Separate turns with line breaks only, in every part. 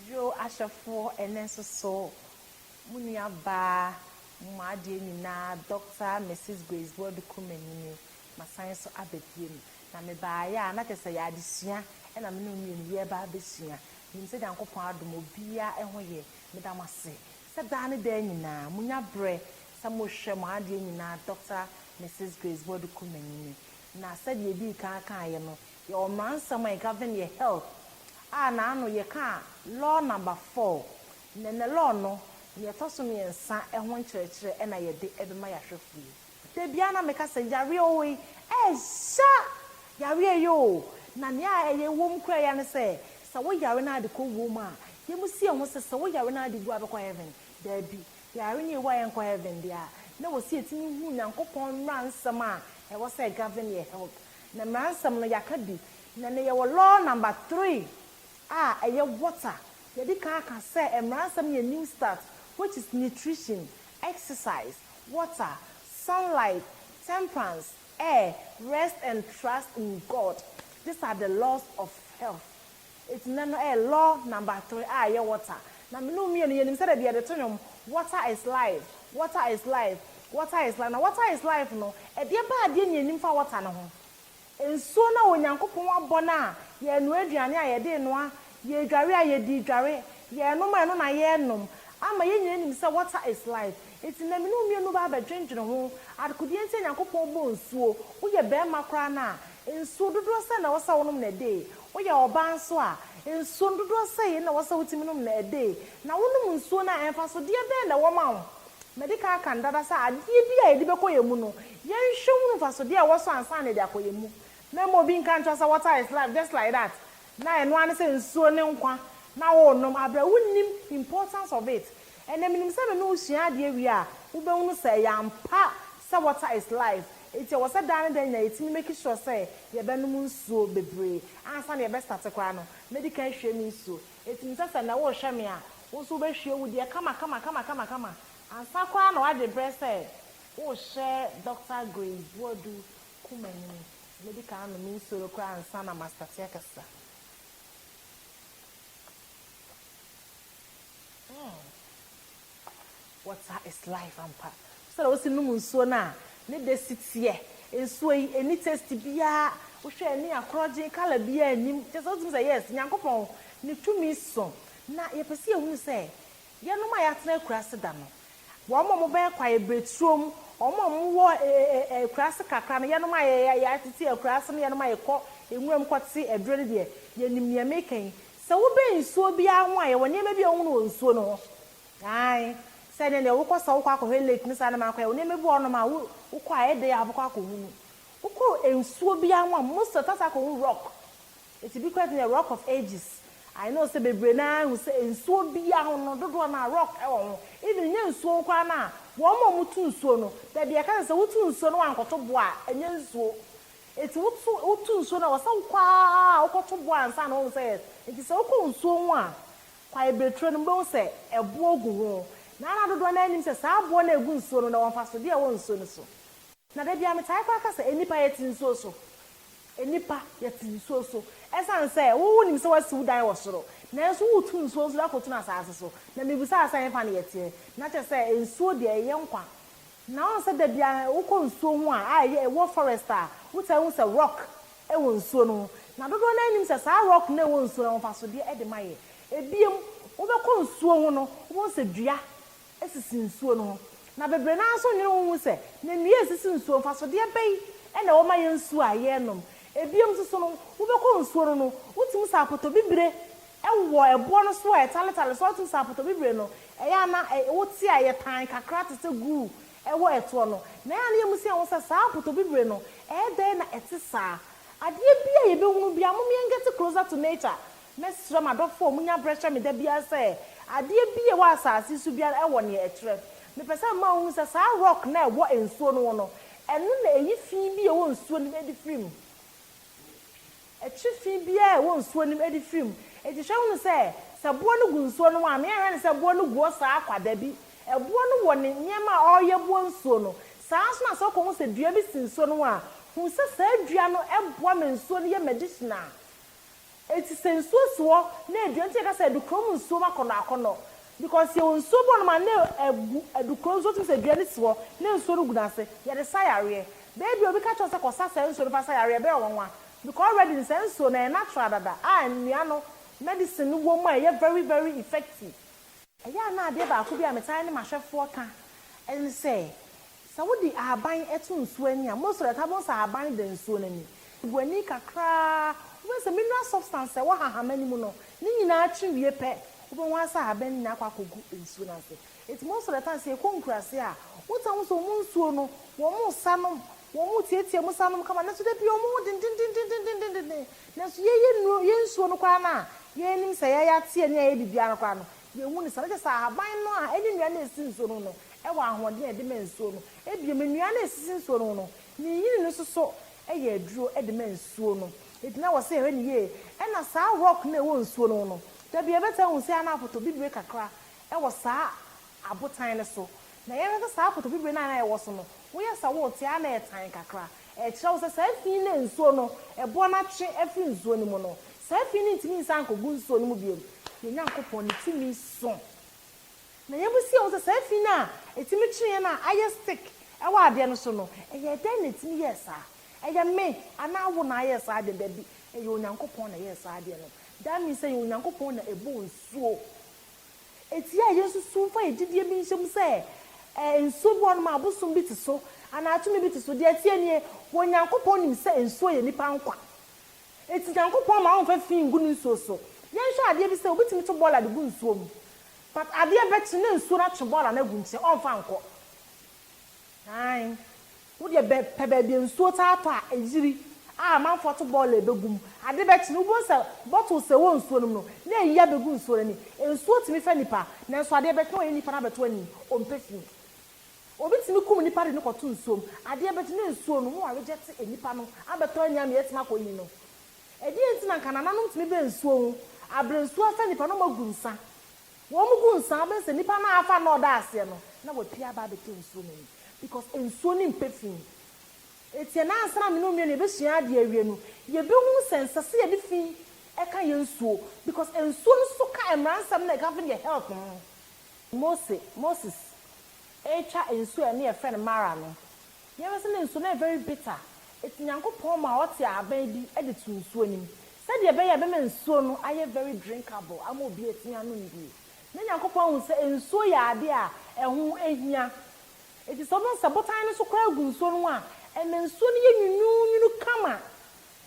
Yo ahwɛfoɔ ɛnɛ nso so mo nua baa mo mo adeɛ nyinaa Doctor Misis Grace Boadu Kumanyini masan nso aba biom na me baa yɛ a na kyerɛ sɛ yɛ adesua ɛna me ne wo mmienu yɛ reba abɛsua menim sɛ Nyankopɔn adom obiara ɛho yɛ meda mo ase sɛ daa ne daa nyinaa mo nya berɛ sɛ mo hwɛ mo adeɛ nyinaa Doctor Misis Grace Boadu Kumanyini na sɛdeɛ yɛdii kan kaeɛ no Yɛwɔ mmaransɛm a ɛgovern yɛ health a n'ano yɛkaa law number four. Na na law no nea ɛtɔ so mmiɛnsa ho nkyerɛkyerɛ na yɛde bɛma yɛahwɛfo yi. Da biara na meka sɛ yareɛ oo ei, ɛɛya yareɛ yi oo. Na nea ɛyɛ wom koraa yi ara ne sɛ, sɛ wo yare no ara de kɔ wuo mu a, yɛmu si yɛn ho sɛ sɛ wo yare no ara de wu a wobɛkɔ heaven? Daabi. Yare no yɛwu a yɛnkɔ heaven deɛ a, na ɛwɔ sɛ yɛtumi hu Nyankopɔn mmaransɛm a ɛwɔ sɛ ɛgovern yɛ health. Na mmaransɛm no yɛaka bi. Na ɛnnɛ yɛwɔ law number three a ɛyɛ water. Yɛadi kan aka sɛ mmaransɛm no yɛ new start which is nutrition, exercise, water, sunlight, temperance, air, rest and trust in God. These are the laws of health. Eti nnɛ no ɛyɛ law number three a ɛyɛ water. Na me ne wo mmienu yɛnim sɛdeɛ deɛ yɛde to nnwom water is life, water is life, water is life. Na water is life no ɛdeɛ baa deɛ ne yɛnim fa water no ho? Nsuo no a Onyankopɔn abɔ no a yɛrenoa aduane a yɛde renoa, yɛredware a yɛde redware, yɛrenom a ɛno na yɛrenom ama yɛn nyinaa nim sɛ water is life. Enti na me ne wo mmienu bɛa bɛdwendwene ho, adekodeɛ nti a Nyankopɔn bɔɔ nsuo, wo yɛ barima koraa no a, nsuo dodoɔ sɛn na ɛwɔ sɛ a wo nom no ɛdee? Wo yɛ ɔbaa nso a, nsuo no dodoɔ sɛn na ɛwɔ sɛ wo tumi nom no ɛdee? Na wo nom nsuo no a, mfasodeɛ bɛn na ɛwɔ ma wo? Madi kan aka no dada sɛ adeɛ bi a yɛde bɛkɔ yɛn mu no, yɛnhwɛ nhunu mfasodeɛ a ɛwɔ so ansa na yɛde akɔ yɛn mu. Na mmom obi nka nkyerɛ wo sɛ what are is life just like that, Na ɛno ara ne sɛ nsuo ne nkwa na worenom aberɛ wonnim importance of it. Ɛnnɛ menim sɛ me ne wo sua adeɛ wie a, wobɛhunu sɛ ɛyɛ ampa sɛ water is life. Enti ɛwɔ sɛ daa ne da nyinaa yɛtumi make sure sɛ yɛbɛnom nsuo bebree. Ansa na yɛbɛ starte koraa no, mɛdi kan ahwie me nsuo. Enti menim sɛ sɛ nnɛ worehwɛ me a, wo nso wobɛhwie wo deɛ kamakamakamakama ansa koraa na w'adwene berɛ sɛ worehyɛ Doctor Grace Boadu koma no mu. Mɛdi kan anom nsuo no koraa ansa na mastate akasa. Hmm. Water is life ampa. Sɛdeɛ wosi nom nsuo no a, ne dɛ si teɛ. Nsuo yi, ɛnni taste biara. Wohwɛ a, ɛnni akorɔgyen, colour biara nnim. Kyerɛ sɛ, wotumi sɛ, Yes, Nyankopɔn, ne tumi so. Na yɛpɛ sɛ yɛhunu sɛ, Yɛnom a yɛatena akuraase da no, wɔn a wɔbɛyɛ kwaebireturo mu, wɔn a wɔwɔ akuraase kakra no, yɛnom a yɛtete akuraase ne yɛnom a yɛkɔ nwura mu kɔte aduro no deɛ, yɛnim deɛ mereka yi. Sɛ wobɛn nsuo biara ho a, yɛwɔ nneɛma bi a wohunu wɔ nsuo no ho. Aane, sɛ ɛnneɛ deɛ wokɔ sɛ wokɔ akɔhwɛ lake ne saa nneɛma no kɔ, yɛwɔ nneɛma bi wɔ hɔnom a wokɔ a ɛyɛ dɛ a wobɛkɔ akɔhunu. Wokɔ nsuo biara ho a, most of the time wobɛkɔ akɔhunu rock. Enti bi koraa tene Rock of Ages I know sɛ bebree no ara hu sɛ nsuo biara ho no dodoɔ no ara rock wɔ ho even nyɛ nsuo koraa no a wɔn a wɔtu nsuo no baabi a yɛka sɛ sɛ wotu nsuo no wankɔto boɔ a ɛnyɛ nsuo enti woto wotu nsuo no a wɔsɛ wokɔ ara a wokɔto boɔ ansa na wahu sɛ yes enti sɛ wokɔ nsuo ho a kwaeɛ berɛtire no wobɛhu sɛ ɛboɔ gu ho na na dodoɔ no ara nnim sɛ saa boɔ no a ɛgu nsuo no na ɛwɔ mfasodeɛ a ɛwɔ nsuo no so. Na da biara metae koraa ka sɛ nnipa yɛte nsuo so, nnipa yɛte nsuo so, ɛsiane sɛ wo wonim sɛ wasi wo dan wɔ soro, nanso woretu nsuo nso de akɔtunu asaase so, na mebisaa sɛ ɛhefa na yɛteɛ, na kyerɛ sɛ nsuo deɛ ɛyɛ nkwa, na woahu sɛ da biara wokɔ nsuo ho a a ɛyɛ ɛwɔ forest a wotaa hu sɛ rock wɔ nsuo no ho, na dodoɔ no ara nnim sɛ saa rock no a ɛwɔ nsuo no ahofasodeɛ de ma yɛ, ɛbiom wobɛkɔ nsuo ho no wobɛhu sɛ dua sisi nsuo no ho. Na bebree no ara nso nnwene ho nhu sɛ, na nnua a ɛsisi nsuo no, mfasodeɛ bɛn na ɛwɔ ma yɛn nsuo a yɛnom. Bio nso no, wobɛkɔ nsuo no no, wotumi sa apotobibire wɔ ɛboɔ no so a ɛtaletale so a wotumi sa apotobibire no. Ɛyɛ a na wote a ɛyɛ tan kakra te sɛ guu wɔ ɛtoɔ no. Na ɛyɛ a na yɛmmisa yɛn ho sɛ, saa apotobibire no, ɛyɛ dɛn na ɛte saa? Adeɛ bi a yɛbɛhunu biara, mom yɛn get closer to nature, Mɛsrɛ m'adɔfo a wɔnya bere hwɛ me da biara sɛ adeɛ bi a ɛwɔ asase so biara wɔ nea ɛkyerɛ. Mepɛ sɛ mema wohu sɛ saa rock no a ɛwɔ nsuo no ho no, ɛno na ɛyi fi bi a ɛwɔ nsuo no mu de firi mu. Ɛkye fi biara a ɛwɔ nsuo no mu de firi mu. Enti hwɛ hunu sɛ, sɛ boɔ no gu nsuo no mu a, meanhwɛ no sɛ boɔ no gu hɔ saa ara kwa. Dabi. Ɛboɔ no wɔ ne nneɛma a ɔreyɛ boa nsuo no. Saa ara nso na sɛ wokɔhu sɛ dua bi si nsuo no ho a, hu sɛ saa dua no boa ma nsuo no yɛ medicinal. Eti sɛ nsuo si hɔ na ɛdua nti na yɛka sɛ adukuro mu nsuo mu akɔnɔ akɔnɔ because yɛwɔ nsuo bi wɔ nom a na ɛgu adukuro nsuo tumi sɛ dua no si hɔ na nsuo no gu no ase yɛde sa yareɛ baabi a obi ka kyerɛ wo sɛ kɔ sa saa nsuo no fa sa yareɛ ɛbɛyɛ wo nwanwa because already no saa nsuo no ɛyɛ natural dada a nnua no medicine no wɔ mu a ɛyɛ very very effective. Ɛyɛ a na adeɛ baako bi a metaa ne m'ahwɛfoɔ ka ne sɛ, Sɛ wode ahaban to nsuo ani a, most of the time wobɛhu sɛ ahaban da nsuo no ani. Gu ani kakra ara, wobɛhu sɛ mineral substance a ɛwɔ hahama no mu no, ne nyinaa twe wie pɛ, wobɛhu ara sɛ ahaban no nyinaa akɔ akɔgu nsuo no ase. Nti most of the time, sɛ yɛkɔ nkuraase a, wotaa hu sɛ wɔn nsuo no, wɔsa nom, wɔtiatia mu sa nom kama, nanso da biara wɔwɔ dendendenden. Nanso yɛn yɛn nnuro, yɛn nsuo no koraa no a yɛn nim sɛ yɛn yɛate ani a ɛyɛ biribiara no koraa no, yɛn hu no saa. Na kyerɛ sɛ ahaban no a ɛne nnua no a ɛsi nsuo no ho no wɔ ahoɔden a ɛde ma nsuo no. Bio, nnua no a ɛsisi nsuo no ho no, ne nyini no nso so yɛ aduro de ma nsuo no. Enti na wɔsɛ yɛhwɛ no yie. Ɛna saa rock no a ɛwɔ nsuo no ho no, da bi yɛbɛtaa hu sɛ ana afoto bibire kakra wɔ saa abotan no so, na yɛhwɛ sɛ saa akoto bibire no a na ɛwɔ so no, woyɛ sɛ worete a na ɛtan kakra. Ɛkyerɛ wo sɛ saa fi no na nsuo no, ɛboɔ no atwe afiri nsuo no mu no. Saa fi no ntumi nsan nkɔgu nsuo no mu bio. Yɛn Nyankopɔn, ne tumi so. Na yɛbisa yɛn ho sɛ, saa fi no a ɛtumi twe yɛn a ayɛ stick wɔ adeɛ no so no, ɛyɛ dɛn na ɛtumi yɛɛ saa? Ɛyɛ me anaa wo na ayɛ saa adeɛ no? Dabi, ɛyɛ Onyankopɔn na ɛyɛɛ saa adeɛ no. That means sɛ ɛyɛ Onyankopɔn na ɛbɔɔ nsuo. Etia a yesusuw fa yɛn gyidie bi nhyɛ mu sɛ nsuo bi wɔ hɔnom a abosom bi te so anaa tumi bi te so. Deɛ ɛteɛ nie, Onyankopɔn nim sɛ nsuo yɛ nnipa nkwa. Enti Nyankopɔn mma ɔmfa fi ngu ne nsuo so. Yɛnhwɛ adeɛ bi sɛ, obi tumi to bɔɔla de gu nsuo mu, but adeɛ bɛkye na nsuo no atwe bɔɔla no agu nkyɛn, ɔmfa nkɔ. Aane, wo deɛ bɛ pɛ baabi a nsuo taa tɔ a ɛyiri a amanfoɔ ato bɔɔla ɛbɛgu mu. Ade bɛkye no, wobɛhu sɛ bottles a ɛwɔ nsuo no mu no, na ayi abɛgu nsuo no ani. Nsuo tumi fɛ nnipa, nanso adeɛ bɛkye na wayɛ nnipa no abɛto ani, ɔmpɛ fii. Obi tumi kum nnipa de no kɔto nsuo mu. Adeɛ bɛkye na nsuo no ho aregyɛte nnipa no abɛtɔ ani ama yɛatumi akɔ ayi no. Ɛdeɛn nti na anka nananom tumi bɛn nsuo ho a berɛ nsuo afɛ nnipa na wɔagu nsa? Wɔn gu nsa abɛn sɛ nipa no afa na ɔda aseɛ no na wapue aba abɛtɔ nsuo no ani because nsuo no mpɛ fi. Nti ɛnɛ ansa na me ne wo mmienu yɛbɛsua adeɛ awie no yɛbɛhunu sɛ ɛnsɛ sɛ yɛde fi ka yɛn nsuo because nsuo no nso ka mmaransɛm na ɛka nso yɛn health ho. Mose, Moses, retwa nsuo a ɛne yɛfrɛ no Mara no, Yɛhwɛ sɛ ne nsu no yɛ very bitter, enti Nyankopɔn maa ɔtee ahaban bi de too nsuo no mu, sɛdeɛ ɛbɛyɛ a ɛbɛma nsuo no ayɛ very drinkable ama obi atumi anom bio. Na Nyankopɔn ahu sɛ nsuo yɛ adeɛ a ɛho hia, enti sɛ wobɛhu sɛ botan no nso koraa gu nsuo no ho a, ɛma nsuo no yɛ nwununwunu kama.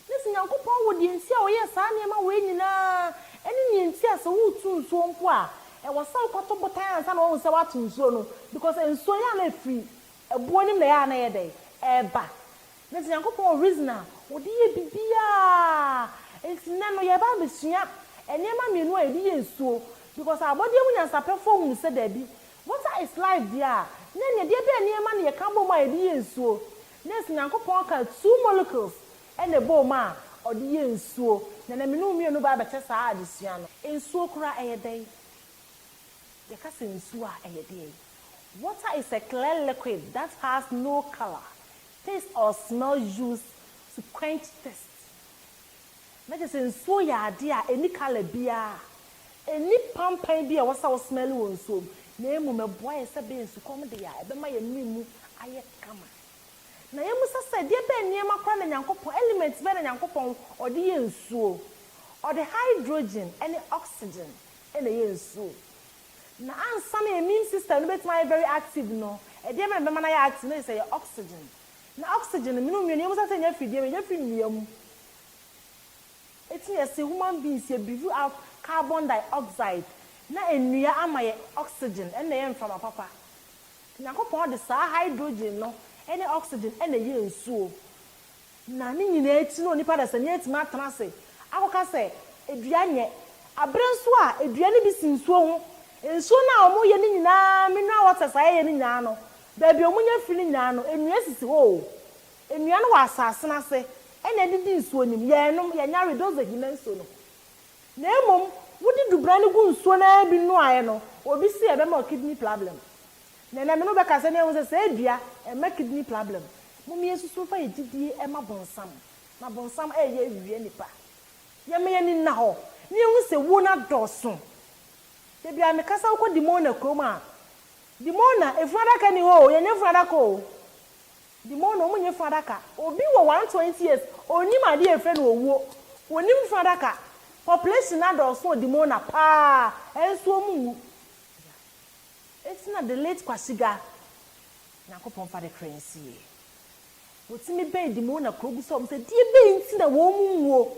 Na sɛ Nyankopɔn wɔ deɛ nti a ɔyɛɛ saa nneɛma wei nyina ara, ne deɛ nti a sɛ woreto nsuo mpo a, ɛwɔ sɛ wokɔto botan ansa na woahu sɛ woato nsuo no, because nsuo yɛ a na ɛfiri Ɛboɔ no mu na ɛyɛ a na ɛyɛ dɛn? Ɛreba. Na sɛ Nyankopɔn wɔ reason a ɔde yɛ biribiara. Nti nnɛ no yɛreba abɛsua nneɛma mmienu a yɛde yɛ nsuo. Because abɔdeɛ mu nyansapɛfoɔ hunu sɛ daabi, water is life deɛ a, na ɛneɛ deɛ bɛn nneɛma na yɛka bom a yɛde yɛ nsuo? Na ɛsɛ Nyankopɔn ka two molecules na ɛbɔ mu a ɔde yɛ nsuo. Na na me ne wo mmienu bɛabɛkyɛ saa adesua no. Nsuo koraa ɛyɛ dɛn? Yɛka sɛ nsuo a, ɛyɛ deɛn? Water is a clear liquid that has no colour, taste or smell used to quench thirst. Na kyerɛ sɛ nsuo yɛ adeɛ a ɛnni colour biara, ɛnni pampan bi a ɛwɔ sɛ wo smell wɔ nsuo mu, na mmom ɛboa yɛn sɛ ɛbɛyɛ nsukɔm deɛ a ɛbɛma yɛn mene mu ayɛ kama. Na yɛmmisa sɛ, deɛ bɛn nneɛma koraa na Nyankopɔn, element bɛn na Nyankopɔn ɔde yɛ nsuo? Ɔde hydrogen ne oxygen na ɛyɛ nsuo. Na ansa na immune system no bɛtumi ayɛ very active no, ɛdeɛ bɛn na ɛbɛma no ayɛ active? Na kyerɛ sɛ ɛyɛ oxygen. Na oxygen no, mene wo mmienu, yɛn mmiɛnsa sɛ yɛnya firi deɛ bɛn? Yɛnya firi nnua mu. Eti na yɛse human beings yɛ breathe out carbon dioxide na nnua ama yɛn oxygen, ɛno na ɛyɛ mframa papa. Nti Nyankopɔn de saa hydrogen no ne oxygen na ɛyɛɛ nsuo. Na ne nyinaa akyi no onipa dasani atumi atena ase akɔka sɛ, Dua nyɛ. Bere nso a dua no bi si nsuo ho. Nsuo no a wɔyɛ no nyinaa, mineral waters a wɔyɛ no nyinaa no, baabi a wɔnya firi no nyinaa no, nnua sisi hɔ o. Nnua no wɔ asase no ase na ɛdidi nsuo no mu. Yɛnnom, yɛnya we, those ahina nsuo no. Na mmom, wode dubena no gu nsuo no ara bi noaeɛ no, obi se ɛbɛma wo kidney problem. Na ɛnɛ me ne wo bɛkasa na yɛahu sɛ saa adua ɛma kidney plablɛm. Mom yɛnsusu mfa yɛn gyidie ɛma bonsam na bonsam ɛɛyɛ awia nnipa. Yɛma yɛn ani nna hɔ na yɛhu sɛ wuo no adɔɔso. Dabi a mekasa wokɔ Dimona kurom a, Dimona efunu adaka nni hɔ o, yɛnyɛ funu adaka o. Dimona wɔn nyɛ funu adaka. Obi wɔ one twenty years ɔnnim adeɛ a yɛfrɛ no owuo. Wɔnnim funu adaka. Population no adɔɔso wɔ Dimona paa nso wɔn nwu. Eti na the late Kwasi Ga, Nyankopɔn mfa ne kra nsie, wɔtumi bɛn Dimo na kuro gu sɛ wɔn sɛ deɛ bɛn nti na wɔn nwuo.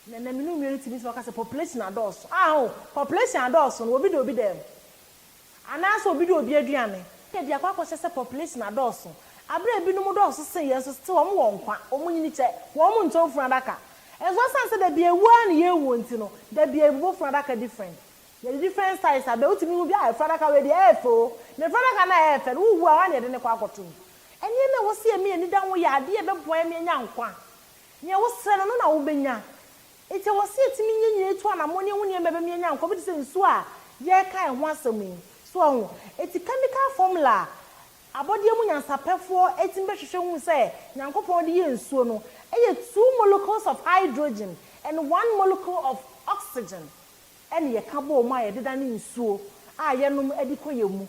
Na na mene onua no tumi sɛ ɔka sɛ population adɔɔso. Ah ho, population adɔɔso no obi da obi dan mu. Anaa sɛ obi di obi aduane. Yɛ de akɔ akɔhyɛ sɛ population adɔɔso. Aberɛ a ebinom dɔɔso sen yɛn nso still wɔn wɔ nkwa, wɔn nyini kyɛ, wɔn ntɔn funu adaka. Nso ɛsan sɛ dabi awuo ara na yɛwu nti no, dabi yɛbobɔ funu adaka different. Yɛ the different size a bɛ wotumi hu bi a efura adaka wei deɛ ɛyɛ fɛ o na efura adaka no a ɛyɛ fɛ no wo wu a wan na yɛde no kɔ akɔto mu ɛneɛma ɛwɔ sɛ yɛma yɛn ani da ho yɛ adeɛ a ɛbɛboa yɛn ma yɛanya nkwa nea wo srɛ no no na wo bɛnya nti ɛwɔ sɛ yɛtumi nya nyinaa tu anamɔne ɛho nneɛma a ɛbɛma yɛanya nkwa bi te sɛ nsuo a yɛreka ɛho asɛm yi so wahu nti chemical formula a abɔdeɛ mu nyansapɛfoɔ tumi bɛhwehwɛ hu sɛ Nyankopɔn de yɛɛ nsuo no ɛyɛ two molecules of hydrogen and one molecule of oxygen ɛne yɛka bɔ mu a yɛdedane nsuo a yɛnom de kɔ yɛn mu.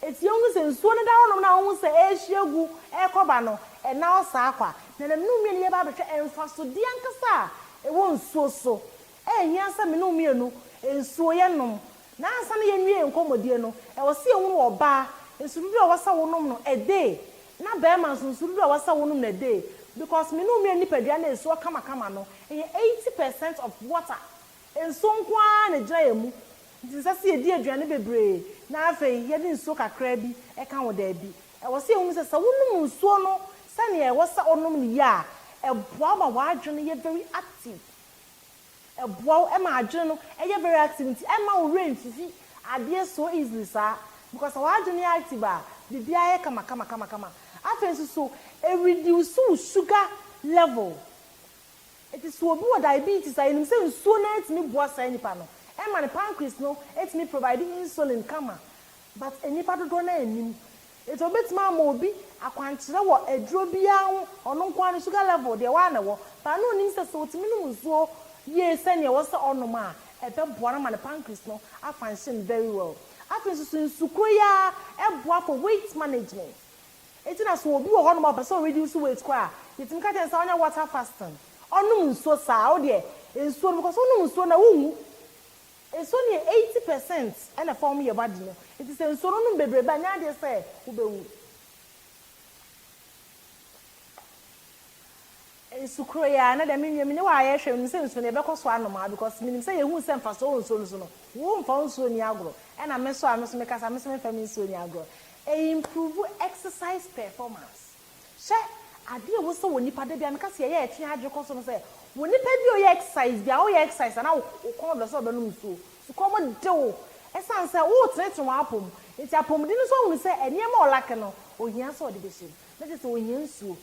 Enti yɛhunu sɛ nsuo no da hɔnom no a wohu sɛ ɛrehye agu rekɔ ba no, ɛnna ɔsaa kɔ a, nanam ne wo mmienu yɛba abɛhwɛ mfasodeɛ ankasa a ɛwɔ nsuo so. Ɛnhia sɛ me ne wo mmienu nsuo yɛnom. Na ansa na yɛnwie yɛn nkɔmmɔdie no, ɛwɔ sɛ yɛhunu ɔbaa nsu dodoɔ a ɛwɔ sɛ wonom no a day, na barima nso nsu dodoɔ a ɛwɔ sɛ wonom no a day, because me ne wo mmienu nipadua no a ɛsuo kamakama no, ɛyɛ eighty percent of water. Nsuo nko ara na ɛgyina yɛn mu, nti ɛnsɛ sɛ yɛdi aduane bebree na afei yɛde nsuo kakraa bi ka ho, daabi. Ɛwɔ sɛ yɛhunu sɛ, sɛ wonom nsuo no sɛdeɛ ɛwɔ sɛ wonom no yie a, ɛboa wo ma w'adwene yɛ very active. Ɛboa wo ma adwene no yɛ very active, nti ɛmma wo werɛ mfifi adeɛ so easily saa, because sɛ w'adwene yɛ active a, biribiara yɛ kama kama kama kama. Afei nso so, ɛreduce wo sugar level, Enti sɛ obi wɔ diabetes a, yenim sɛ nsuo no ara tumi boa saa nipa no, ɛma ne pancreas no tumi provide insulin kama. But nnipa dodoɔ no ara nnim. Enti wɔbɛtumi ama obi akwankyerɛ wɔ aduro biara ho, ɔno nko ara ne sugar level deɛ ɛwɔ ara na ɛwɔ. But na ɔnim sɛ sɛ ɔtumi nom nsuo yie sɛdeɛ ɛwɔ sɛ ɔnom a, ɛbɛboa no ama ne pancreas no a function very well. Afei nso so, nsukorɔ yi ara boa for weight management. Enti na sɛ obi wɔ hɔ nom a ɔpɛ sɛ ɔ reduce weight koraa a, yɛtumi ka kyerɛ no sɛ ɔnyɛ water fasting. Ɔnom nsuo saa. Wo deɛ nsuo no, because wonom nsuo no a wonwu. Nsuo no yɛ eighty percent na ɛfɔɔm yɛ body no. Enti sɛ nsuo no wonom bebrebe a, nyɛ adeɛ sɛ wobɛwu. Nsu koro yi ara na dɛm nua me ne wo a yɛ hwɛ menim sɛ nsuo no yɛ bɛkɔ so anom aa because menim sɛ yɛ hu sɛ mfasoɔ wɔ nsuo no so no wo mfa wo nsuo nni agorɔ ɛna me so a me so me ka sa me so me mfa me nsuo nni agorɔ ɛyɛ improve exercise performance hyɛ adeɛ ɛwɔ sɛ wɔ nipa da bia me ka sɛ yɛ yɛ ɛtwe adwene kɔ so no sɛ wɔ nipa bi a ɔyɛ exercise bia wo yɛ exercise a na wo kɔn dɔ sɛ wɔ bɛ nom nsuo su kɔm de wo ɛsan sɛ wo tene tene wɔ apom nti apomuden no nso ahunu sɛ ɛneɛma ɔlake no ohia sɛ ɔde bɛ hyɛ mu na kyɛ sɛ ohia nsuo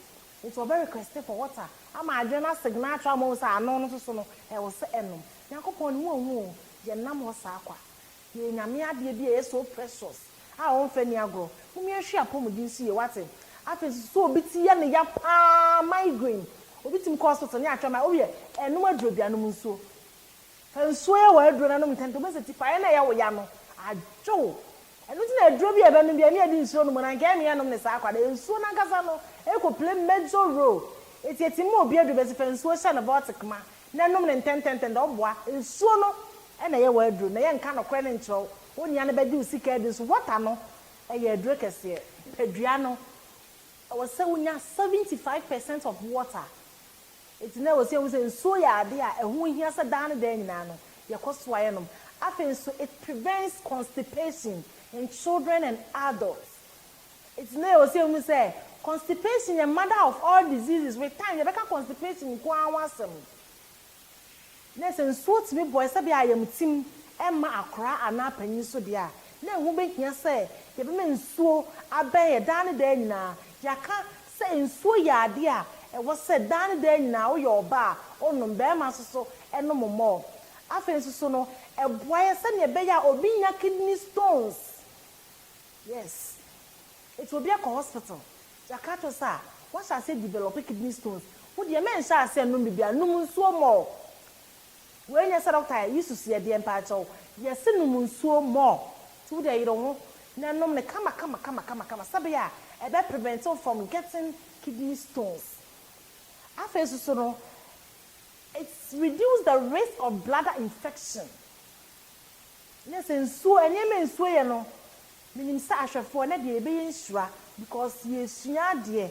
Enti ɔbɛ request for water ama adwene no asigne ato ama ohu sɛ ano no nso so no ɛwɔ sɛ ɛnom. Nyankopɔn ne ho ɔhu oo, yɛ nnam hɔ saa kwa. Yɛyɛ Nyame adeɛ bi a ɛyɛ so precious a ɔmfa nni agorɔ. Mumi ɛhwɛ apɔmuden nso yie wate. Afei nso sɛ obi ti yɛ no ya paa, migraine, obi tumi kɔ hospital ne atwɛn ma, owiɛ ɛnom aduro bi anom nsuo. Fa nsuo yɛ w'aduro no anom ntɛmntɛm, wobɛhu sɛ tipaeɛ no a ɛyɛ wo ya no adwo wo. Ɛno nti na aduro bi a yɛbɛnom biara, ne yɛde nsuo nom, na anka ɛrennua nom no saa kwa, na nsuo no ankasa no kɔ play major role. Enti ɛtim ma obi aduro, bɛse fa nsuo hyɛ no bɔtik ma, na nom no ntɛmntɛmntɛmntɛm, ɔboa. Nsuo no na ɛyɛ w'aduro, na yɛnka nokorɛ no nkyerɛ wo, wo nua no bɛgye wo sika adi nso, water no yɛ aduro kɛseɛ. Nipadua no, ɛwɔ sɛ wonya seventy five percent of water, Enti na ɛwɔ sɛ yehu sɛ nsuo yɛ adeɛ a ɛho hia sɛ daa ne daa nyinaa no, yɛkɔ so ara yɛnom. Afei nso, it prevents constipation in children and adults. Enti na ɛwɔ sɛ yehu sɛ constipation yɛ mother of all diseases. With time, yɛbɛka constipation nko ara ho asɛm. Na sɛ nsuo tumi bɔ sɛdeɛ a ayamtim mma akwadaa anaa panin nso deɛ a, na ɛho bɛhia sɛ yɛbɛma nsuo abɛn yɛn daa ne daa nyinaa. Yɛaka sɛ nsuo yɛ adeɛ a ɛwɔ sɛ daa ne daa nyinaa woyɛ ɔbaa a, wonom. Barima nso so nom more. Afei nso so no, ɛboa yɛn sɛdeɛ ɛbɛyɛ a obi nnya kidney stones. Yes. Nti obi akɔ hospital Jakato sa, Woahyɛ aseɛ develop kidney stones, wo deɛ menhyɛ aseɛ nnom biribi a, nom nsuo more. Wei nyɛ sɛ doctor a, yi susuɛ deɛ mpaakyɛw, yɛse nom nsuo more, nti wo deɛ yere ho na nom no kama kama kama kama kama sɛbea a ɛbɛ prevent wo from getting kidney stones. Afei nsoso no, it reduce the risk of bladder infection. Nyɛ sɛ nsuo, nneɛma a nsuo yɛ no, Menim sɛ ahwɛfoɔ na deɛ yɛbɛyɛ nhyira because yɛresua adeɛ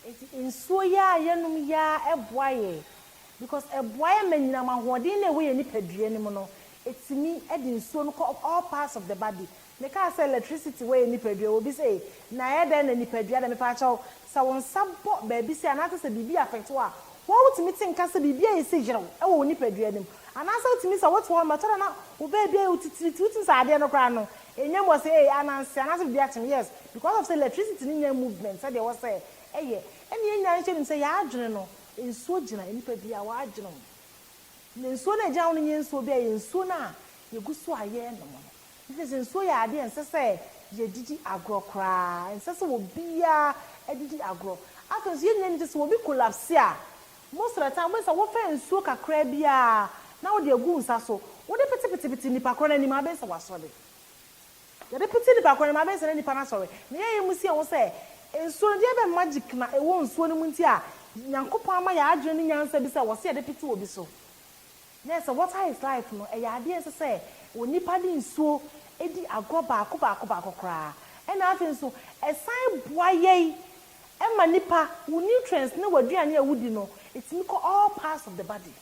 nti nsuo yi ara a yɛnom yi ara boa yɛ because ɛboa yɛ ma anyinam ahoɔden no a ɛwɔ yɛn nipadua no mu no ɛtumi de nsuo no kɔ all parts of the body. Mekaa sɛ electricity wɔ yɛn nipadua wɔ bi sɛ ei na ɛyɛ dɛn na nipadua deɛ mepakyɛw Sɛ wo nsa bɔ baabi sei anaasɛ sɛ biribi affect wo a, woa wotumi te nka sɛ biribi ayɛ sɛ yerɛw wɔ wo nipadua no mu. Anaasɛ wotumi sɛ wote hɔnom a ɛtɔ da na wo baabi ayɛ wo titiritii, wotumi sɛ adeɛ no koraa no ɛnya mu, ɔsɛ ee ananse anaasɛ biribi akye me, yes because of sɛ electricity no nya movement sɛdeɛ ɛwɔ sɛ ɛyɛ. Ɛnna yɛn nyinaa nso yɛnim sɛ yɛn adwene no, nsuo gyina nnipa biara wɔn adwene ho. Na nsuo no a ɛgyina ho no nyɛ nsuo biara, ɛyɛ nsuo no a yɛgu so a yɛrenom no. Ɛfiri sɛ nsuo yɛ adeɛ a ɛnsɛ sɛ yɛdidi agorɔ koraa. Ɛnsɛ sɛ obiara didi agorɔ. Afei nso, yɛn nyinaa nim sɛ sɛ obi kolapse a, most of the time wobɛhu sɛ wofa nsuo kakraa bi ara na wode agu wo nsa so, wode petepetepete nnipa korɔ no anim a, wobɛhu sɛ wasɔre. Yɛde pete nnipa korɔ no anim a, wobɛhu sɛ na nnipa no asɔre. Na yɛn a yɛmu sie ho sɛ nsuo no, deɛ bɛn magic na ɛwɔ nsuo no mu nti a Nyankopɔn ama yɛn adwene ne nyansa bi sɛ wɔse yɛde pete obi so? Nɛ sɛ water his life no, ɛyɛ adeɛ nso sɛ onipa de nsuo di agorɔ baako baako baako koraa. Ɛna afei nso ɛsan boa yɛi ma nipa, wo nutrients ne w'aduane a wodi no ɛtumi kɔ all parts of the body.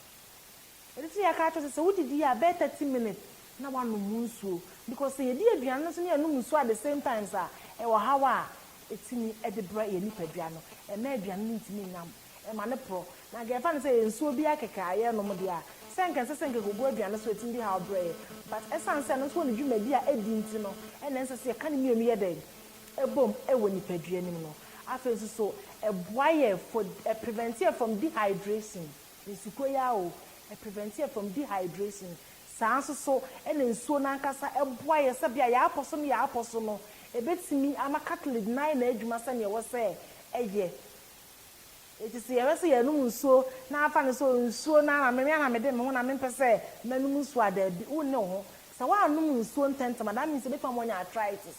Ɛno nti na yɛaka akyerɛ wo sɛ, sɛ wodidi a bɛyɛ thirty minutes na wanom wo nsuo because sɛ yɛdi aduane no nso na yɛnom nsuo at the same times a, ɛyɛ ɔhaw a ɛtumi de brɛ yɛn nipadua no, ɛmma aduane no ntumi nnyam. ɛma no porɔ, na anka yɛfa no sɛ ɛyɛ nsuo bi ara kɛkɛ a yɛrenom deɛ a, sɛ anka ɛnsɛ sɛ nkɛkɔgu aduane so a ɛtumi de haw brɛ yɛn. But ɛsiane sɛ ɛno nso wɔ ne dwumadi a ɛdi nti no, ɛna ɛnsɛ sɛ yɛka ne mmienu yɛ dɛn? bom wɔ nipadua no mu no. Afei nso so, ɛboa yɛn for, ɛ prevent yɛn from dehydration, nsukuo yi ara o, ɛ prevent yɛn from dehydration. Saa ara nso so na nsuo no ankasa boa yɛn sɛ bia yɛapɔ so ne yɛapɔ so no, ɛbɛtumi ama cartilage no ayɛ n'adwuma sɛdeɛ ɛwɔ sɛ ɛyɛ. Enti sɛ yɛhwɛ sɛ yɛrenom nsuo na afa no sɛ nsuo no ara, me ara na mede me ho na mempɛ sɛ mɛnom nsuo a, daabi, wonne wo ho. Sɛ woannom nsuo ntɛntɛm a, that means ebi kwan ma woanya arthritis.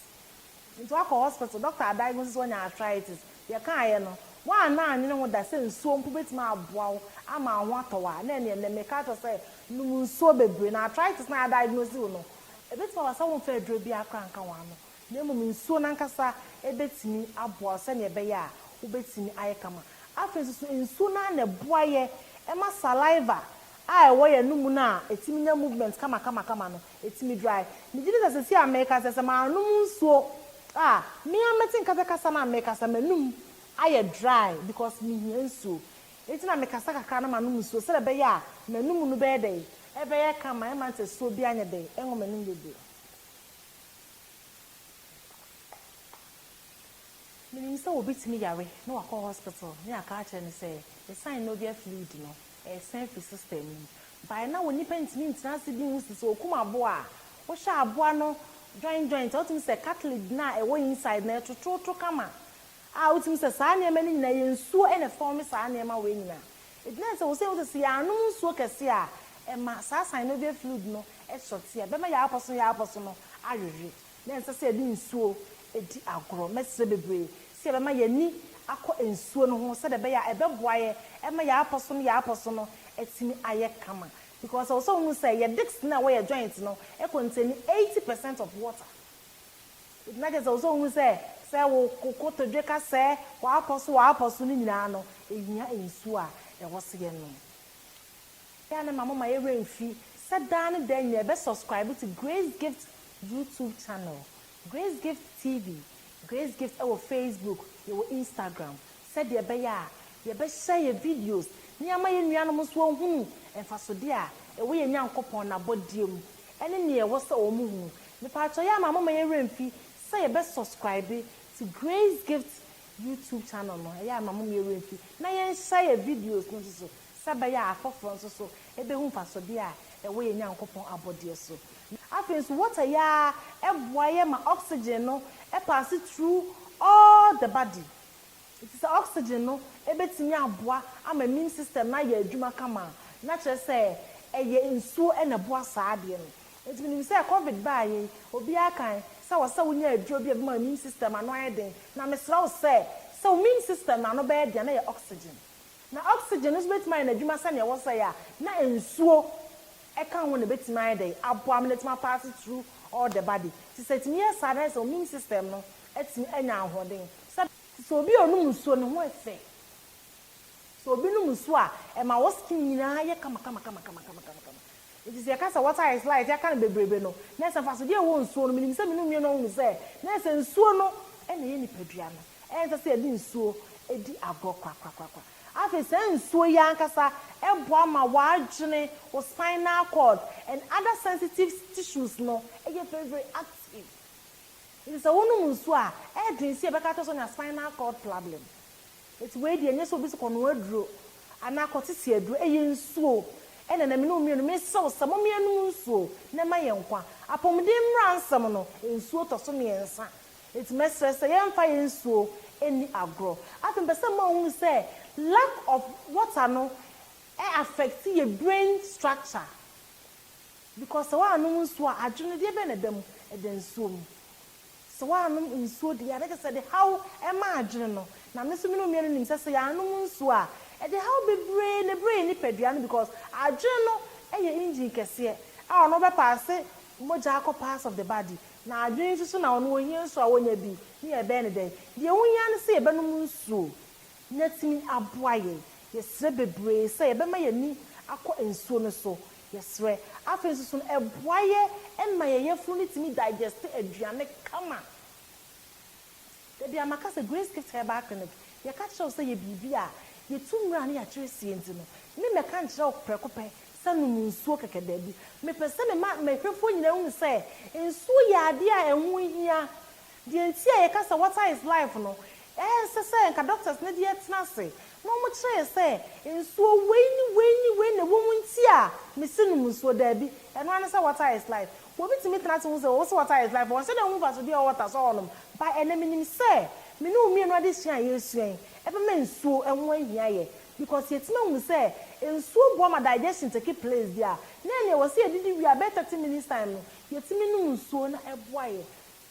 Enti woakɔ hospital, doctor adiagnose wo sɛ woanya arthritis. Deɛ ɛkaeɛ no, woanna annwene ho da sɛ nsuo mpo bɛtumi aboa wo ama wo ho atɔ wo a, na ɛnneɛ nnɛ meka akyerɛ wo sɛ nom nsuo bebree. Na arthritis no a yɛadiagnose wo no, ɛbɛtumi aba sɛ womfaa aduro biara koraa anka w'ano. na mmom nsuo no ankasa bɛtumi aboa wo sɛdeɛ ɛbɛyɛ a wobɛtumi ayɛ kama. Afei nso so, nsuo no ara na ɛboa yɛn ma saliva a ɛwɔ yɛn anomu no a ɛtumi nya movement kamakamakama no, ɛtumi dry. Megye di sɛ seesei a merekasa yi, sɛ mannom nsuo a, me ara mɛte nka sɛ kasa no a merekasa, m'anum ayɛ dry because mehia nsuo. Enti na mekasa kakra na manom nsuo sɛdeɛ ɛbɛyɛ a m'anum no bɛyɛ dɛn? Ɛbɛyɛ kama, ɛmma nsɛsoɔ biara nyɛ dɛn? Ɛnwɔ m'anum dodo. Menim sɛ obi tumi yare na wakɔ hospital ne aka akyerɛ no sɛ ne synovial fluid no ɛresan firi system no mu baeɛ na wo nipa ntumi ntena ase bi nhu si sɛ okum aboa a wohwɛ aboa no joint joint a wotumi hu sɛ cartilage no a ɛwɔ inside no ɛtototo kama a wotumi hu sɛ saa nneɛma no nyinaa ɛyɛ nsuo na ɛform saa nneɛma wei nyinaa Egyina sɛ ose ose sɛ yɛannom nsuo kɛse a ɛma saa synovial fluid no sɔte a ɛbɛma yɛapɔso yɛapɔso no awewe na ɛnsɛ sɛ yɛde nsuo di agorɔ. Mɛsrɛ bebree sɛ yɛbɛma yɛn ani akɔ nsuo no ho sɛdeɛ ɛbɛyɛ a ɛbɛboa yɛ ɛma yɛapɔso no yɛapɔso no atumi ayɛ kama because ɛwɔ sɛ wohu sɛ yɛ disc no a ɛwɔ yɛ joint no contain 80 percent of water. Nti na kyerɛ sɛ ɔwɔ sɛ ɔhu sɛ sɛ wo kotodwe ka sɛ w'apɔ so w'apɔ so no nyinaa no ɛhia nsuo a ɛwɔ sɛ yɛnom. Wei a ne ma momma yɛn werɛ mfi sɛ daa ne daa nyinaa yɛbɛ subscribe to Grace Gift YouTube channel, Grace Gift TV, Grace Gift ɛwɔ Facebook, yɛwɔ Instagram, sɛdeɛ ɛbɛyɛ a yɛbɛhyɛ yɛn videos na yɛama yɛn nuanom nso ahunu mfasodeɛ a ɛwɔ yɛn Nyankopɔn n'abɔdeɛ mu ɛne nea ɛwɔ sɛ wɔn hunu. Mepaatɔ yɛ a ma momma yɛn werɛ mfi sɛ yɛbɛ subscribe to Grace Gift YouTube channel no, ɛyɛ a ma momma yɛn werɛ mfi na yɛnhyɛ yɛn videos no nso so sɛ ɛbɛyɛ a afoforɔ nso so ɛbɛhu mfasodeɛ a ɛwɔ yɛn Nyankopɔn abɔdeɛ so. Afei nso water yi ara ɛboa yɛ ma oxygen no paase through all the body. Enti sɛ oxygen no bɛtumi aboa ama immune system no ayɛ adwuma kama a, na kyerɛ sɛ ɛyɛ nsuo na ɛboa saa adeɛ no. Enti menim sɛ covid baeɛ yi, obiara kan sɛ wɔ sɛ wonya aduro bi a ɛbɛma immune system ano ayɛ den. Na mesrɛ wo sɛ, sɛ wo immune system no ano bɛyɛ den a, na yɛ oxygen. Na oxygen no nso bɛtumi ayɛ n'adwuma sɛdeɛ ɛwɔ sɛ yɛ a, na nsuo ka ho na ɛbɛtumi ayɛ dɛn? Aboa ama no atumi apaase through all the body. Enti sɛ ɛtumi yɛ saa a, na ayɛ sɛ wo immune system no atumi anya ahoɔden. Sɛ. Sɛ obi a ɔnom nsuo ne ho yɛ fɛ. Sɛ obi nom nsuo a, ɛma wɔ skin nyinaa yɛ kamakamakamakama. Nti sɛ yɛka sɛ water is light yɛaka no bebrebe no, na sɛ mfasodeɛ a ɛwɔ nsuo no, menim sɛ me ne nnuane ahunu sɛ, na sɛ nsuo no na ɛyɛ nipadua no, ɛnsɛ sɛ yɛde nsuo di agorɔ korakorakorakora. Afei saa nsuo yi ankasa boa ma w'adwene, wo spinal cord and other sensitive tissues no yɛ very very active. Enti sɛ wonom nsu a, ɛyɛ den sɛ yɛbɛka akyerɛ sɛ onya spinal cord problem. Enti wei deɛ, ɛnyɛ sɛ obi se kɔnoa aduro anaa kɔtete aduro, ɛyɛ nsuo. Ɛnna na me ne wo mmienu, mesrɛ wo sɛ momma yɛnnom nsuo na ɛma yɛn nkwa. Apɔmuden mmara nsɛm no, nsuo tɔ so mmiɛnsa. Enti mɛsrɛ sɛ yɛmfa yɛn nsuo nni agorɔ. Afei mepɛ sɛ mma wohunu sɛ lack of water no affect yɛn brain structure. Because sɛ woannom nsuo a adwene no deɛ bɛn na ɛda mu? Ɛda nsuo mu. Sɛ woannom nsuo deɛ a na kyerɛ sɛ ɛde haw ma adwene no. Na me nso me ne onua no nim sɛ sɛ yɛannom nsuo a ɛde haw bebree na ɛbrɛ yɛn nipadua no because adwene no yɛ engine kɛseɛ a ɔno ɔbɛ paase mogya akɔ parts of the body. Na adwene nso so na ɔno ɔhia nsuo a ɔnya bi ne yɛbɛyɛ no dɛn? Deɛ wohia ne sɛ yɛbɛnom nsuo. na atumi aboa yɛn. Yɛsrɛ bebree sɛ yɛbɛma yɛn ani akɔ nsuo no so. Yɛsrɛ. Afei nso so no, ɛboa yɛ ma yɛn yafunu no tumi digeste aduane kama. Dabi a maka sɛ Grace Gift Herbal Clinic, yɛka kyerɛ wo sɛ yɛ biribi a yɛtu mmara ne yɛakyerɛ sie nti no, me mɛka nkyerɛ wo prɛko pɛ sɛ nom nsuo kɛkɛ dabi. Mepɛ sɛ mema m'ahwɛfoɔ nyinaa hunu sɛ nsuo yɛ adeɛ a ɛho hia. Deɛ nti a yɛka sɛ water is life no, ɛnsɛ sɛ nka doctors no deɛ tena ase na wɔkyerɛ yɛn sɛ nsuo wei ne wei ne wei na ɛwɔ mu nti a mese nom nsuo, daabi, ɛno ara ne sɛ water is life. Obi tumi tena ase hu sɛ wɔse water is life, ɔnhyɛ da nhu mfasoɔ biara a ɛwɔ water so a ɔnom, but ɛnnɛ menim sɛ me ne wo mmienu adesua a yɛresua yi ɛbɛma nsuo ho ahia yɛ because yɛatumi ahunu sɛ nsuo boa ma digestion take place deɛ a na ɛnneɛ ɛwɔ sɛ yɛdidi wie a bɛyɛ thirty minutes time no yɛtumi nom nsuo na ɛboa yɛn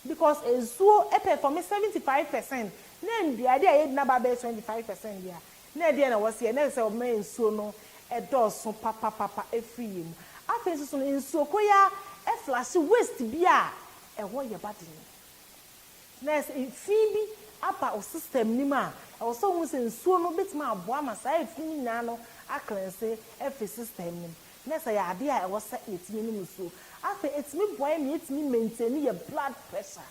Because nsuo perform seventy five percent na nnuade a yɛdi no aba abɛyɛ twenty five percent deɛ a, na ɛdeɛn na wɔsi yɛ? Na ɛsɛ sɛ wɔbɛma nsuo no dɔɔso papapapa afiri yɛn mu. Afei nso so no, nsuo kɔ yi ara flashe waste bi a ɛhɔ yɛ ba den. Nti na ayɛ sɛ fi bi aba wo system no mu a, ɛwɔ sɛ wohu sɛ nsuo no bɛtumi aboa ama saa fi no nyinaa no a cleanse afiri system no mu. Na sɛ yɛ adeɛ a ɛwɔ sɛ yɛtumi nom nsuo. Afei ɛtumi boa yɛn ma yɛtumi maintaini yɛ blood pressure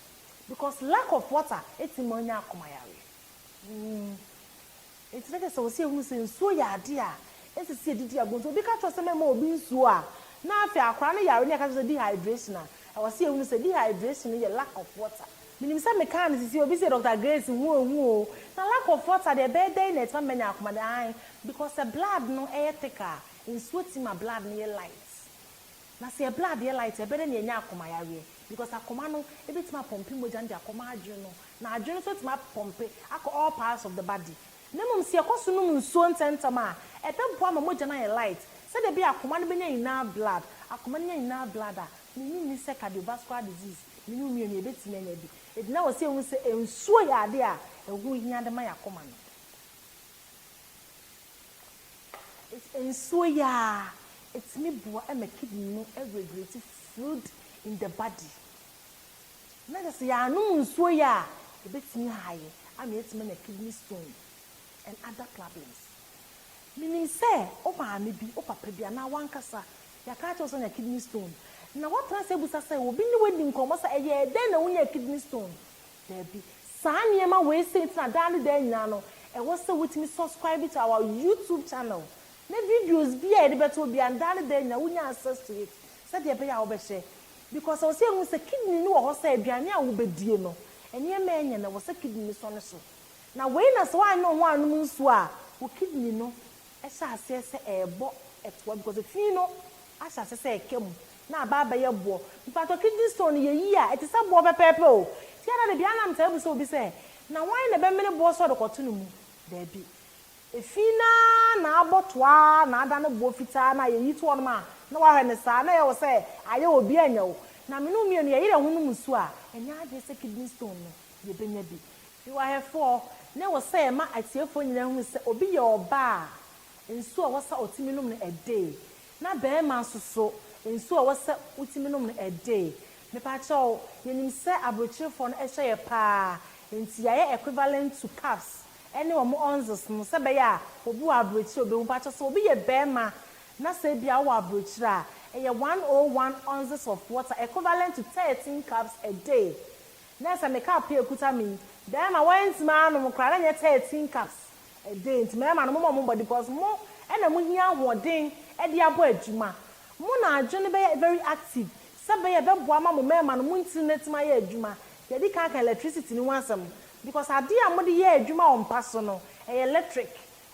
because lack of water ɛtumi ma wonya akoma yareɛ. Nti na kyerɛ sɛ ɛwɔ sɛ yɛhunu sɛ nsuo yɛ adeɛ a ɛnsɛ sɛ yɛde di agorɔ. Nti obi ka kyerɛ wo sɛ mɛma obi nsuo a, na afei akwadaa no yare na yɛka kyerɛ wo sɛ dehydration a, ɛwɔ sɛ yɛhunu sɛ dehydration no yɛ lack of water. Menim sɛ mekaa no sisi obi se Doctor Grace hu ohu o, na lack of water deɛ ɛbɛyɛ dɛn na ɛtumi ama manya akoma yareɛ? Aane, because sɛ blood no yɛ thick a, Nsuo ti ma blood no yɛ light. Na sɛ yɛ blood yɛ light a, ɛbɛdɛ na yɛanya akoma yareɛ because akoma no bɛtumi apɔmpe mogya no de akɔma adwene no. Na adwene no nso atumi apɔmpe akɔ all parts of the body. Na mmom sɛ yɛkɔ so nom nsuo ntɛmntɛm a, ɛbɛboa ama mogya no ayɛ light. Sɛdeɛ ɛbɛyɛ a akoma no bɛnya enough blood. Akoma no nya enough blood a, mene wo nni sɛ cardiovascular disease, mene wo mmienu yɛbɛtumi anya bi. Enti na ɛwɔ sɛ yɛhu sɛ nsuo yɛ adeɛ a ɛho hia de ma yɛn akoma no. Nsuo yi ara, ɛtumi boa ma kidney no regulate fluid in the body. Na kyerɛ sɛ yɛanom nsuo yi a, ɛbɛtumi aha yɛ ama yɛatumi anya kidney stone and other problems. Menim sɛ wo maame bi, wo papa bi anaa w'ankasa, yɛaka akyerɛ wo sɛ woanya kidney stone. Na woatena ase abisa sɛ obi ne wo adi nkɔmmɔ sɛ ɛyɛɛ dɛn na wonyaa kidney stone? Dabi. Saa nneɛma wei sei nti na daa ne daa nyinaa no ɛwɔ sɛ wotumi subscribe to our YouTube channel na videos biara a yɛde bɛto hɔ biara no daa ne daa nyinaa wonya access to it sɛdeɛ ɛbɛyɛ a wobɛhwɛ because ɛwɔ sɛ yɛhu sɛ kidney no wɔ hɔ sɛ aduane a wobɛdie no nneɛma a ɛnyɛ no ɛwɔ sɛ kidney no sɔ ne so na wei na sɛ woanyɛ wo ho annom nsuo a wo kidney no Ɛhyɛ aseɛ sɛ ɛrebɔ ɛtoa because fii no ahyɛ aseɛ sɛ ɛka mu na aba abɛyɛ boɔ mpakyɛw kidney stone no yɛ yie a ɛte sɛ boɔ pɛpɛɛpɛ o nti ada da biara na metaa bisa obi sɛ na hwan na ɛbɛmene boɔ sɛ ɔde kɔto ne mu daabi ɛfii no ara na abɔ toa ara na ada no boɔ fitaa na yɛyi to hɔnom a na wahwɛ no saa na ɛyɛ wo sɛ ayɛ obi anya wo na me ne wo mmienu yɛyere yɛn ho no mu su a ɛnyɛ adwene sɛ kidney stone no yɛbɛnya bi Fiwahefoɔ, ne wo sɛ ma atiefoɔ nyinaa hunu sɛ obi yɛ ɔbaa a, nsuo a ɛwɔ sɛ ɔtumi nom no ɛde, na barima nso so, nsuo a ɛwɔ sɛ wotumi nom no ɛde. Mepakyɛw, yɛnim sɛ abrokyerefoɔ no hyɛ yɛ pa ara, enti yɛayɛ equivalent to cups ne wɔn onzes no sɛ ɛbɛyɛ a obi wɔ abrokyire a ɔbɛhu. Mepakyɛw, sɛ obi yɛ barima na sɛ ebia ɔwɔ abrokyire a, ɛyɛ one o one onzes of water, equivalent to thirteen cups ɛde. Na sɛ me cup yi a ɛkuta me yi, bɛɛma wɔn antumi anom koraa, na nyɛ thirteen cups de, nti mɛɛma no momɔ mo bɔde, because mo na mo hia ahoɔden de abɔ adwuma, mo na adwene bɛyɛ very active, sɛ bɛyɛ ɛbɛboa ama mo mɛɛma no mo ntiri no atumi ayɛ adwuma, yɛdi kan aka electricity no ho asɛm, because adeɛ a mode yɛ adwuma wɔ mpa so no, ɛyɛ electric,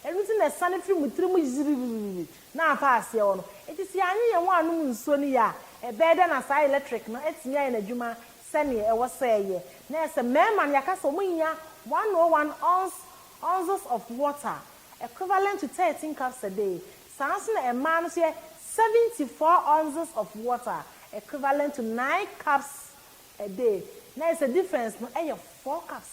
ɛno nti na ɛsane firi mo tiri mu gyigyigigyigyi na afa aseɛ hɔ no, nti sɛ yɛanye yɛn ho annom nsuo no yie a, ɛbɛyɛ dɛn na saa electric no atumi ayɛ n'adwuma sɛnea ɛwɔ sɛ ɛyɛ, na ɛyɛ sɛ mmarima no yɛaka sɛ wɔnya 101 ons, ounces, of water, equivalent to thirteen cups a day, saa ara nso na mmaa no nso yɛ 74 ounces of water, equivalent to nine cups a day, na ɛyɛ sɛ difference no yɛ four cups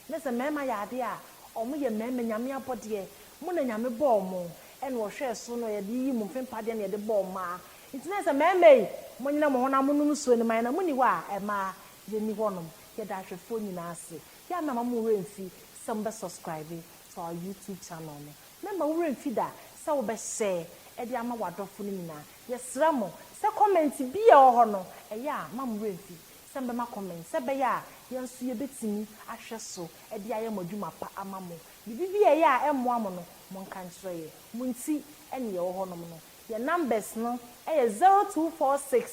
Ne sɛ mmarima yɛ adeɛ a, wɔn yɛ mmarima, Nyame abɔdeɛ. Mo na Nyame bɔɔ mo, ɛna ɔhwɛɛ so na ɔde yiyii mo mfempa deɛ na yɛde bɔɔ mmaa. Nti na ɛsɛ mmarima yi, mo nyina mo ho na mo nom nsuo no ma yɛn, na mo nni hɔ a, mmaa, yɛn nni hɔ nom. Yɛda ahwɛfoɔ nyinaa ase. Yɛn mmarima mo werɛ mfi sɛ mo bɛ subscribe to our YouTube channel no. Mmarima wo werɛ mfi da sɛ wo bɛ share de ama w'adɔfo no nyinaa. Yɛsrɛ mo sɛ comment biara a ɛwɔ hɔ no, ɛyɛ a, mma mo werɛ mfi. sɛ mobɛma comment sɛ ɛbɛyɛ a yɛn nso yɛbɛtumi ahwɛ so de ayɛ mo adwuma pa ama mo. Biribi bi a ɛyɛ a ɛmmoa mo no, monka nkyerɛ yɛn. Mo nti ne yɛwɔ hɔnom no. Yɛn numbers no yɛ zero two four six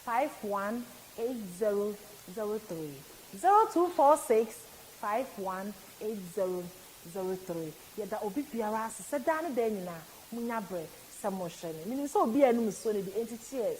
five one eight zero zero three, zero two four six five one eight zero zero three. Yɛda obi biara ase sɛ daa ne daa nyinaa monya berɛ sɛ mohwɛ no. Menim sɛ obi a anum nsuo no de, enti cheers.